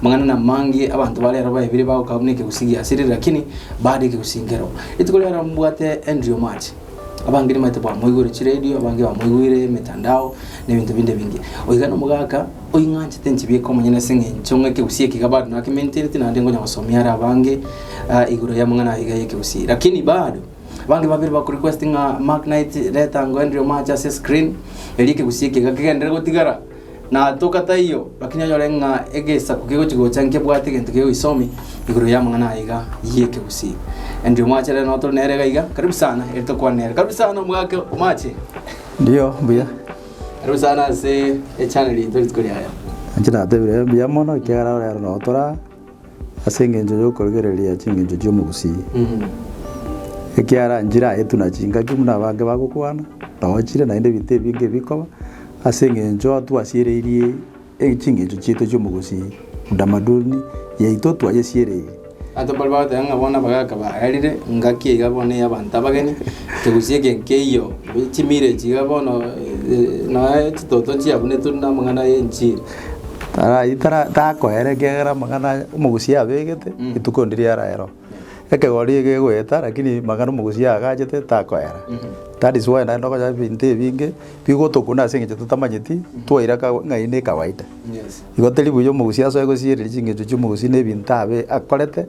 Amang'ana namange abanto bare aro baebire bagoka buna ekegusii giasirire, lakini baria egegusii nkero. Rituko riaro mbwate Andrew March, abange nibaete bamoigwere chiredio, abange bamoigwire emetandao, na ebinto binde ebinge. Oiga nomogaka oing'anchete nchibieka omonyene ase eng'encho ng'a ekegusii eke iga bado nakementereti naende ngonya gosomia are abange ah, igoro y'amang'ana aya iga y'ekegusii. Lakini bado abange babere bakorequest ng'a Mark Knight reta ango Andrew March ase screen, erio ekegusii eke iga kegenderere gotigara. Na toka taiyo, lakini onyore ng'a egesaku kegochi gocha nkebwate egento kegoisomi igoro y'amang'ana aya iga y'ekegusii. Andrew mwachere no tore nere iga iga. Karibu sana eri tokwane nere. Karibu sana omogaka omache. Ndio, mbuya. Karibu sana ase echannel yaito rituko riaye. Inche natebire mbuya mono ekiagera orero notora Ase engencho y'okorigereria chingencho chi'omogusii, ekiaranchire aetwe na chingaki buna abange bagokwana, naochire, naende ebinto ebinge ebikoba, ase engencho twasiereirie chingencho chiaito chi'omogusii, utamaduni yaito twayesiereirie. Abanto mbare bagoteba ng'a bono abagaka baararire, ngaki iga bono ya abanto abageni, togusii eke nkeiyo, chimileage iga bono, noe chitoto chiabu neturi namang'ana y'enchiri. Tarayi tara takoera ekiagera amang'ana aya omogusia abegete, rituko ndiria araera oo. Ekegori egegoeta rakini magaro omogusia agachete takoera. That is why naende okonya ebinto ebinge, bigotokuna ase eng'encho totamanyeti, twairaka ng'ai ne kawaida. Igo teri buya omogusia asoe gosiereria ching'encho chiomogusia na ebinto abe akorete.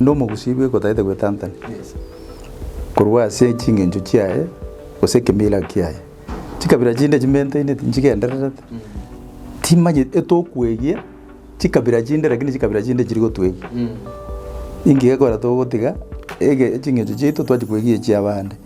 Nde omogusi bwe gotagete gwetantani korwa ase chingencho chiaye gose ekemeira kiaye. Chikabira chinde chimenteine tinchigendererete, timanyeti etokwegia chikabira chinde lakini chikabira chinde chiri gotwegia. Inki gekogera togotiga ege chingencho chiaito twachi kwegia echiabande?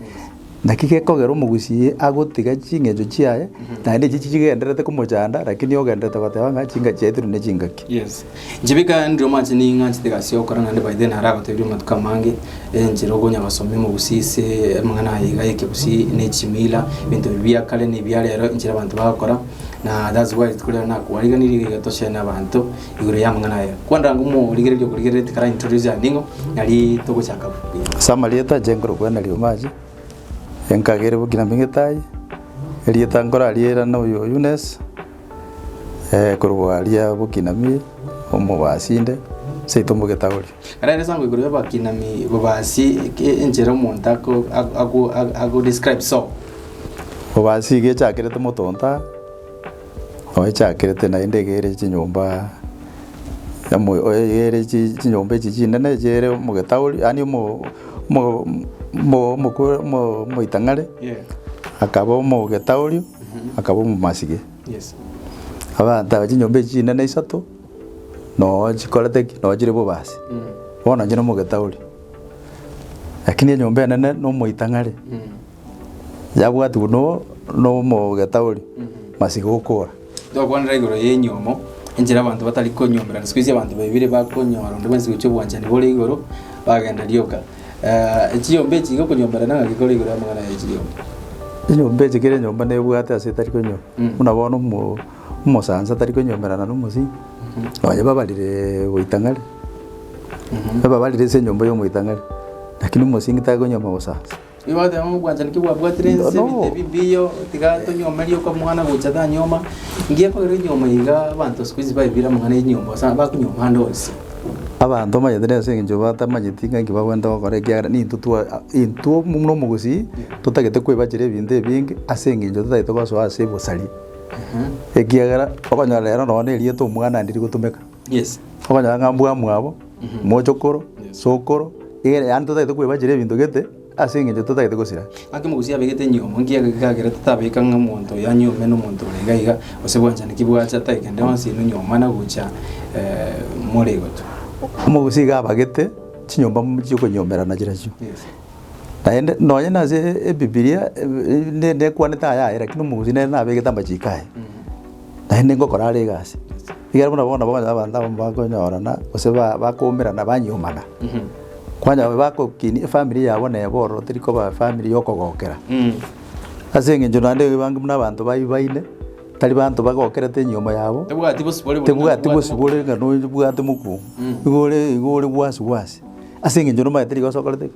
Dakika ekogera omogusii agotiga chingencho chiaye naende echi chigendererete komochanda lakini ogendererete goteba ng'a chinka chiaetirwe ne chingaki. Yes. Njibika ndire omoanchete ning'aa chitiga ase okora naende by then naro agotebirie amatuko amange enchera okonya gosomia omogusii ase amang'ana aye iga ekegusii ne chimila ebinto ebi bia kare ne bia rero enchera abanto bagokora na that's why rituko riane nakobarigereria iga tochene abanto igoro y'amang'ana aya. Kwanda ng'a omorigereria okorigereretie kara introduce ande ng'o, nari togochaka buya. Ase amarieta ache nkorokwa na rioma ache, enkagere bokina ming'itaai, erieta nkorariirane oyo Eunice, korokwa aria Bokinami, omobasinde, seito mogetagoria. Kare ere esango igoro y'abakinami bobasi eke enchera omonto ako- ako- ako- ago describe so. Obasi iga echakerete moto ontaa. Oechakerete naende egeire chinyomba yamoyo egeire chinyomba echi chinene chiere omogetauri yaani omo omo omo omokwe omo omoitang'are akaba omogetauri akaba omomasibe. Abanto aba chinyomba echi chinene isato noo chikorete ki noo chire bobasi bono inche nomogetauri lakini enyomba enene nomoitang'are. Yabwatigwe no nomogetauri masiga okora. Tokwanera igoro y'enyomo, enchera abanto batari konyomerana. Siku hizi abanto baibire bakonyora onde bwensi gochia obwanchani bore igoro, bagenda rioka. Eh, chiyomba echi gokonyomerana ng'a gekore igoro y'amang'ana ya chiyomba. Enyomba eche kera enyomba nebwate ase etari konyo Mm. buna bono omo omosansa tari konyomerana na omosinyi nonye babarire goitang'ari Mhm. babarire ase enyomba ya omoitang'ari lakini omosingi takonyoma obosansa. Abanto mbanyete nere ase engencho batamanyeti ng'a inki bagwenta gokora, ekiagera nintwe twa intwe buna omogusii totagete koebachera ebinto ebinge ase engencho totagete gosoa ase obosaria. Ekiagera okonyora rero nonye na erieta omwana ande rigotumeka. Yes. Okonyora ng'a mbwamwabo, mochokoro, sokoro, egere yaani totagete kwebachera ebinto gete ase eng'encho totagete gosira. Gaki mogusia abegete enyomo, nki eke gekagera totabeka ng'a omonto oyo anyome na omonto ore iga iga, gose bwanchani ki bwacha tari kende onsi inwe nyomwa mana gocha eh, more gotu. Omogusia iga abagete chinyomba m- chiokonyomerana chirachio. Yes. Naende nonye nase ebibiria eh, ne- nekwanete aya aye, lakini omogusia nere nabegete amachiko aye, naende ngokora are egasi. Ekero buna bono bakonyora abanto abamo bakonyorana, gose ba- bakoumerana banyuomana, kwanyora aba bagokinia efamiri yabo nebo ororo teri koba efamiri ya okogokera. Ase eng'encho naende ebange buna abanto bayi baine, tari banto bagokerete enyiomo yabo, Tebwati bosibore buna tebwati bosibore ng'a noyo bwate mokuo, igo ore igo ore bwasi bwasi, ase eng'encho nomanyete rigo ase okorete ki.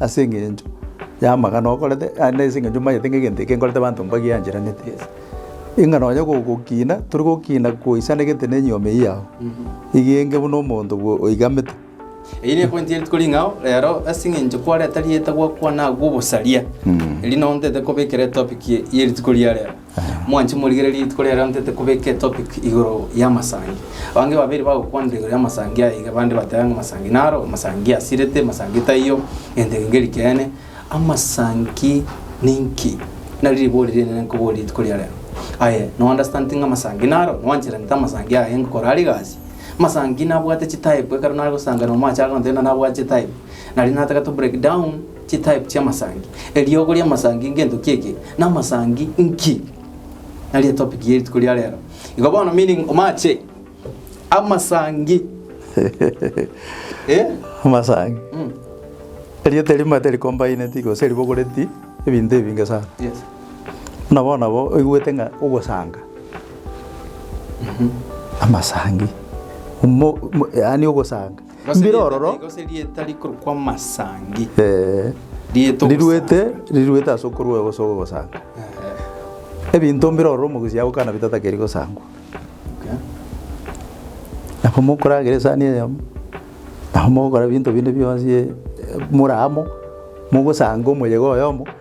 Ase engencho y'amagana okorete, naende ase engencho omanyete ng'a egento eke nkorete abanto mbagiancheraneti. Ing'a nonye gogokina, tori gokina goisanegete na enyiomi eyio yao, eyio enge buna omonto bwo oigamete. Eyio nepointi ere tikori ing'ao rero, ase eng'encho kwareta rieta gwakwana agwo obosaria. Erio nao ntaete kobekera etopic y'eri tikori ya rero. Mwanche morigererie rituko riaye riao ntete kobeka etopic igoro ya masangi. Abange babere bagokwanera igoro ya masangi aya iga bande bateba ng'a masangi naro, masangi asirete, masangi taiyo, gento ege ngeri keene. Amasangi ninki? Nari ribori rinene nkoboria rituko ria rero. Aye no understand ng'a masangi naro? Nwanchereretie amasangi aya ngokora are egasi? Masangi nabwate chitype ekero nare gosanga nomo ache agoteba ng'a nabwate chitype. Nari nataka to break down Chitype chi'amasangi. Eriogo ri'amasangi ngento ki eke? Namasangi nki? Nario etopic ye rituko ria rero. Igo bono meaning omache amasangi. Eh? Amasangi. Mm. Erieta erimo teri combined gose ribogoreti ebinto ebinge sana. Yes. Buna bono nabo oigwete ng'a ogosanga. Amasangi. Omo, omo, yaani ogosanga. Gose Mbirororo. rieta riaye, gose rieta rikorokwa Masangi. Eh, Rieta riruete ogosangi. riruete ase okorua gose ogosanga Eh, ebinto mbirororo omogusii agokana bitatakeri gosangwa okay. nabo mokoragera esani eyemo nabo mogokora ebinto binde bionsi eh, more amo mogosanga omoyega oyomo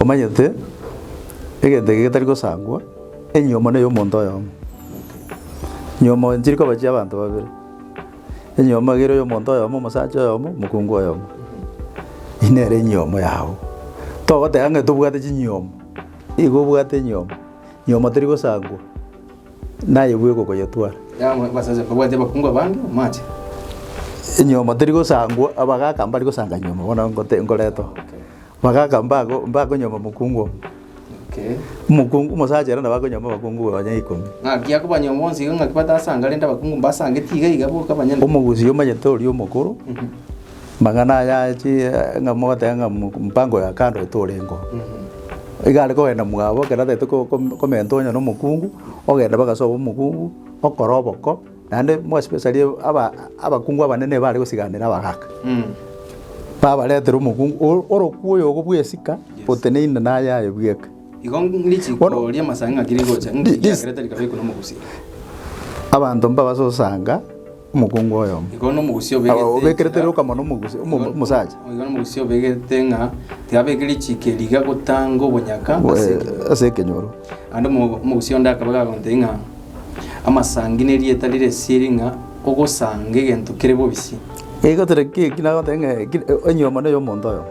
Omanyete, egento eke getari gosangwa, enyomo neye omonto oyomo. Nyomo nchiri koba chia abanto babere. Enyomo egere ya omonto oyomo, omosacha oyomo, mokungu oyomo. Eyio nere enyomo yabo. Togoteba ng'a tobwate chinyomo, nigo obwate enyomo. Nyomo teri gosangwa. Naye bweka okoyetwara. Yang'we base ense mbabwate abakungu abande bamache. Enyiomo teri gosangwa, abagaka mbari gosanga nyiomo bono ngote ngoretwa. Abagaka mbago mbakonyiomo mokungu omo. Okay. Omokungu omosacha ere nabo akonyiomo abakungu onye ikomi. Ng'aki akobanyiomo bonsi iga ng'aki batasanga rende abakungu mbasangeti iga iga boka banyene. Omogusi omanyete oria omokoro. Mang'ana aya achi ng'a mogoteba ng'a mu- mpango ya kando ete orengeo. Iga are kogenda mwabo ekero atagete ko- kom- komenta onye na omokungu, ogenda mpaka ase omokungu, okore oboko, naende mo especially aba abakungu abanene nibo are gosiganera abagaka. Babaretere omokungu o- orokwo oyogo bwa esika, oteneine na ayaye bweka. Igo ng- richiko Bono- ria amasaanga ng'aki rigocha, Thi- ng'aki this- riakerete rikabeku na omogusii. Abanto mbabase gosanga Omokungu oyomo. Igo nomogusia obegete Aba obekerete enchera- rioka mono omogusi- omo- omosacha. Igo nomogusia obegete ng'a tibabeke richiko eri iga gotanga obonyaka Bo- ase eh, ekenyoro. Ase ekenyoro. Naende omo- omogusia onde akaba gagontebia ng'a amasangi nerieta rire esiri ng'a ogosanga egento kere bobisi. Igo tore ki- ki nagotebi ng'a ki- onyiomane y'omonto oyomo.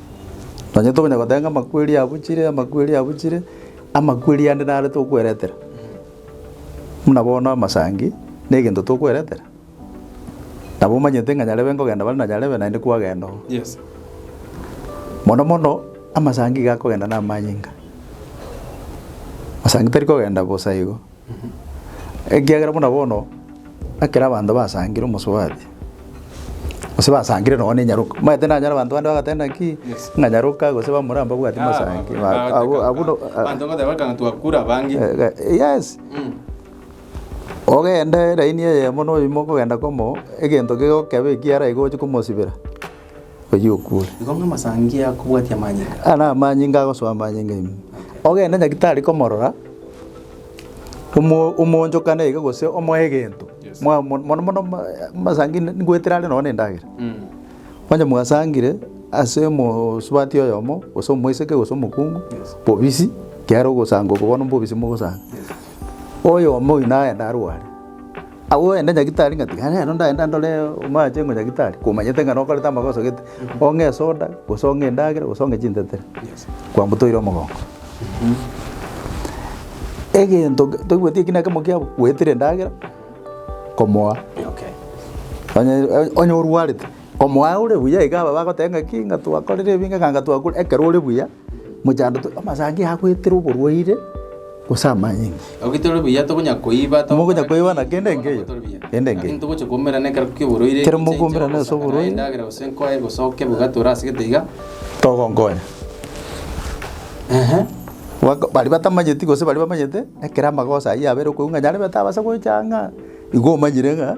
Nonye tokonya goteba ng'a amakweri abuchire, amakweri abuchire, amakweri ande naro tokweretera. Buna bono amasangi, na egento tokweretera, nabo omanyete ng'a nyarebe nkogenda bare na nyarebe naende kwagenda oo. Mono mono, amasangi iga akogenda na amanyinga. Amasangi tari kogenda bosa igo. Ekiagera buna bono ekero abanto basangire omosubati, gose basangire nonye na enyaroka, omanyete nanyora abanto bande bagoteeba naki, ng'a nyaroka gose bamura mbabwati mosangi abwo- abwo no- abanto bagoteba ekanga twakure abange. Yes, ogende raini eyemo na oyio mokogenda komo, egento kegokebe ekiara iga oche komosibera. oyio okure. Igo ng'a amasangia akobwatia amanyinga. Aya namanyinga agosoa amanyinga ime. Ogende nyaki tari komorora, omo omoonchokane iga gose omoe egento, Yes. mwa mo- mono mono ma- eh, amasangi ne- ngoetera are nonye na endagera. Onye mwasangire ase omosubati oyomo, gose omoiseke gose omokungu, Yes. bobisi, kiaro ogosanga oko bono mbobisi mogosanga. Oyomo oyi nagenda arware. Agwo ogende nyagitari ng'a tiga rero ndagende ndore omorache ng'a nyagitari komanyete ng'a nokorete amagoso gete, ong'e esoda gose ong'e endagera gose ong'e chintetero kwamotoire omogongo. Egento ke toigweti ekina ekemo kiabo goetera endagera komoa onye onye orwarete komoa ore buya iga aba bagoteba ng'aki ng'a twakorire ebi ng'a ekanga twakure ekero ore buya. Mochandote amasangi agoetera oborwaire gose amanyinga. Ogetore buya tokonya koiba to- Mogonya koiba na kende enke eyo, Ogetore buya. kende enke Lakini eyo. togocha koumerana ekero ki'oborwaire Ekero gose mokoumera nase gosakana oborwaire. endagera gose nkoe gose oke bogatore ase gete iga. Togonkonya. Ehe. Bak- baria batamanyeti gose baria bamanyete, ekero amagoso ayio yabera okoigwa ng'a nyarebe tabasa gocha ang'aa, igo omanyire ng'a,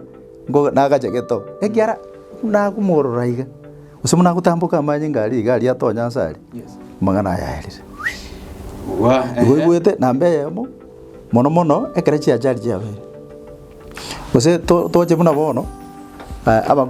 nko- nagache gete oo. Ekiara nakomorora iga. Gose buna agotamboka amanyinga aria iga aria atonya nse aria, amang'ana ayaerire. Igwaigwete namba eyemo mono mono ekero chiachari chiabeire. Gose to- toche buna bono eh, aba-